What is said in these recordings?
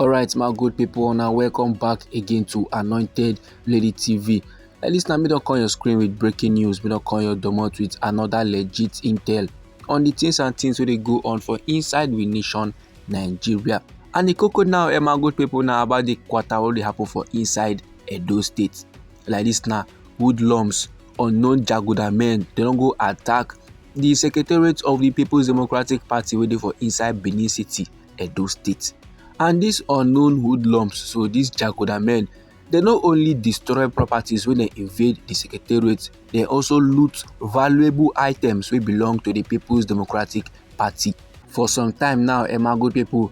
alright my good people now welcome back again to anointed lady tv at least now me don't call your screen with breaking news me don't call your domot with another legit intel on the things and things where they go on for inside the nation nigeria and the cocoa now eh, my good people now about the quarter wey dey happen for inside edo state like this now hoodlums unknown jaguda men they don't go attack the secretariat of the people's democratic party wey dey for inside benin city edo state and these unknown hoodlums so these jaguda men they not only destroy properties when they invade the secretariat they also loot valuable items wey belong to the people's democratic party for some time now emagote people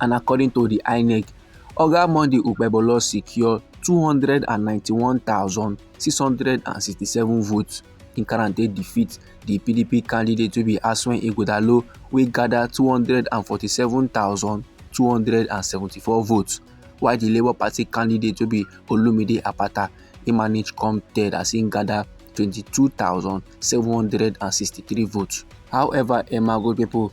and according to di inec oga monday okpebholo secure 291667 votes in karate defeat di pdp candidate wey be aswen ighodalo wey gada 247274 votes while di labour party candidate wey be olumide apata e manage come third as im gada 22763 votes however emma gold pipo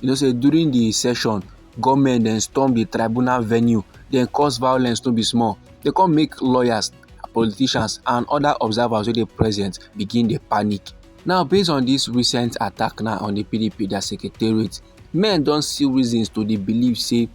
You know say during the session, gunmen then storm the tribunal venue, then cause violence to be small. They come make lawyers, politicians and other observers wey dey present begin dey panic. Now based on this recent attack now on the PDP their secretariat, men don see reasons to dey believe say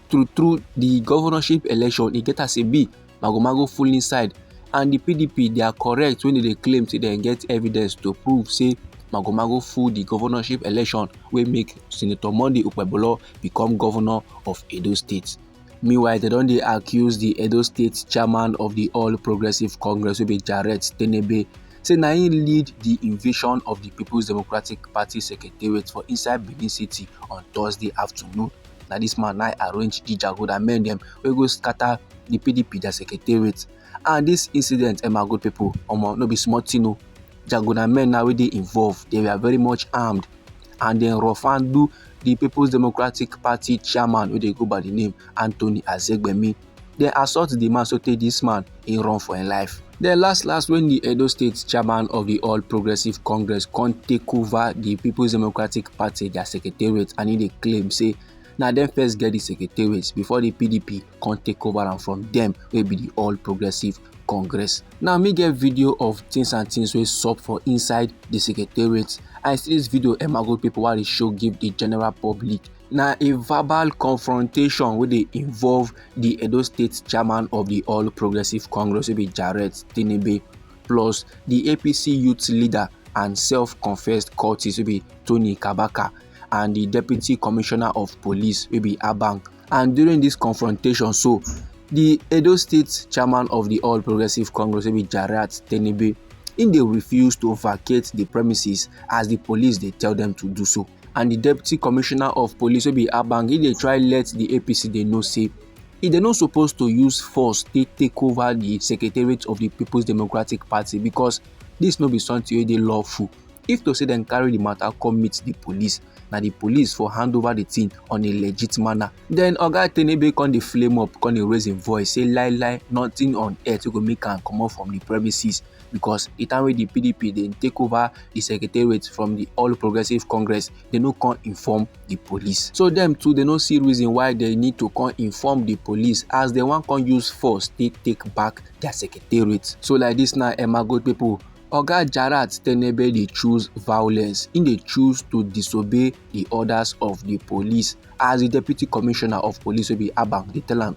true true the governorship election e get as e be magomago full inside and di pdp dia correct wen dem dey claim say dem get evidence to prove say magomago full di governorship election wey make senator monday okpebholo become governor of edo state meanwhile dem don dey accuse di edo state chairman of di all progressives congress wey be jarrett tenebe say na im lead di invasion of di peoples democratic party secretariat for inside benin city on thursday afternoon na this man na arrange the jagoda men dem wey go scatter the pdp their secretariat and this incident eh my good people omo no be small thing o jagoda men na wey dey involved they were very much armed and dem rough and do the people's democratic party chairman wey dey go by the name anthony azegbemi dem assault di man sotey dis man e run for im life. den last last wen di edo state chairman of di all progressives congress come take ova di peoples democratic party dia secretariat and e dey claim say na dem first get di secretariat before di pdp come take over am from dem wey be di all progressives congress now me get video of things and things wey sup for inside di secretariat and see dis video emago pipo wey i dey show give di general public na a verbal confrontation wey dey involve di edo state chairman of di all progressives congress wey be jarrett tinubu plus di apc youth leader and self-confessed cultist wey be tony kabaka and di deputy commissioner of police wey be abang and during dis confrontation so di edo state chairman of di all progressives congress wey be jarrett tinubu im dey refuse to vacate di premises as di police dey tell dem to do so. and di deputy commissioner of police wey be abang e dey try let di apc dey know say e dey no suppose to use force take take over di secretariat of di peoples democratic party because dis no be something wey dey lawful if to say dem carry di matter come meet di police na di police for hand over di thing on a legit manner den oga tenebe come dey flame up come dey raise im voice say lie lie nothing on earth wey go make am comot from di premises because the time wey the pdp dey take over the secretariat from the all progressives congress they no come inform the police so them too they no see reason why they need to come inform the police as they wan come use force take take back their secretariat so like this now emma good people oga jarat tenebe dey choose violence im dey choose to disobey di orders of di police as di deputy commissioner of police wey be abang dey tell am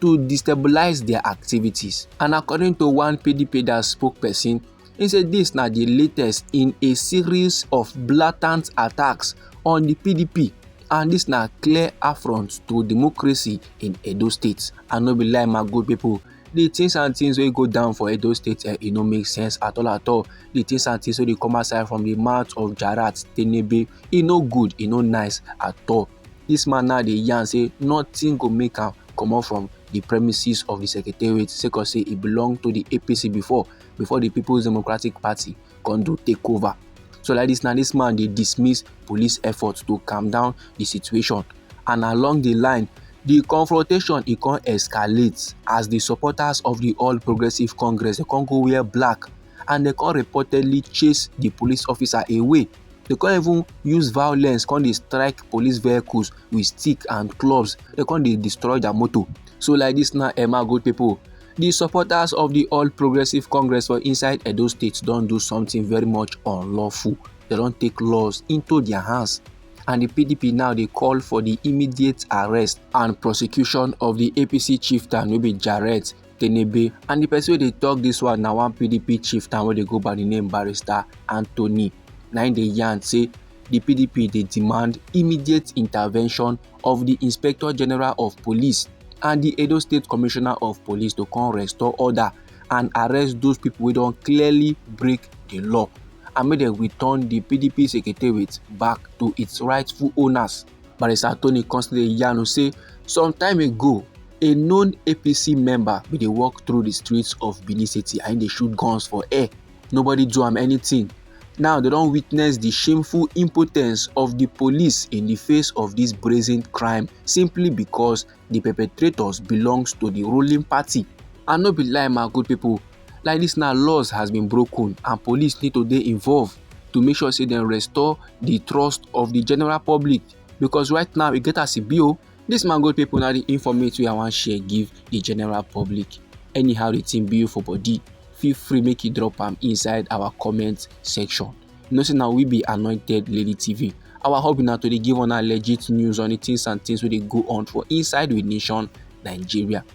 to destabilise dia activities and according to one pedipeda spokesperson e say dis na di latest in a series of blatant attacks on di pdp and dis na clear affront to democracy in edo state i no be lie my good pipo the things and things wey go down for edo state eh, e no make sense at all at all the things and things wey dey come outside from the mouth of jarat tenebe e no good e no nice at all Dis man now dey yarn say nothing go make am comot from di premises of di secretariat sake of say e belong to di APC before before di People's Democratic Party come do take over. So like dis now dis man dey dismiss police efforts to calm down di situation and along di line di confrontation e come escalate as di supporters of di All Progressives Congress dey come go wear black and dem come reportedly chase di police officer away they come even use violence come dey strike police vehicles with stick and clubs they come dey destroy their motor so like this now emma good people the supporters of the all progressive congress for inside edo state don do something very much unlawful they don take laws into their hands and the pdp now dey call for the immediate arrest and prosecution of the apc chieftain wey be jarrett Tenebe and the person wey dey talk this one na one PDP chieftain wey dey go by the name Barrister Anthony na im dey yarn say the PDP dey demand immediate intervention of the Inspector General of Police and the Edo State Commissioner of Police to come restore order and arrest those people wey don clearly break the law and make dem return the PDP secretariat back to its rightful owners. Barrister Tony Constable Yanu say some time ago, a known APC member bin dey walk through the streets of Benin City and dey shoot guns for air. Nobody do am anything. Now they don witness the shameful impotence of the police in the face of this brazen crime simply because the perpetrators belongs to the ruling party. And no be lie my good people, like dis now laws has been broken and police need to dey involved to make sure say dem restore the trust of the general public because right now e get as e be o oh, this man go people na the informate wey i wan share give the general public anyhow the thing be for body feel free make you drop am inside our comment section you know say na we be anointed lady tv our hobby na to dey give una legit news on the things and things wey dey go on for inside we nation nigeria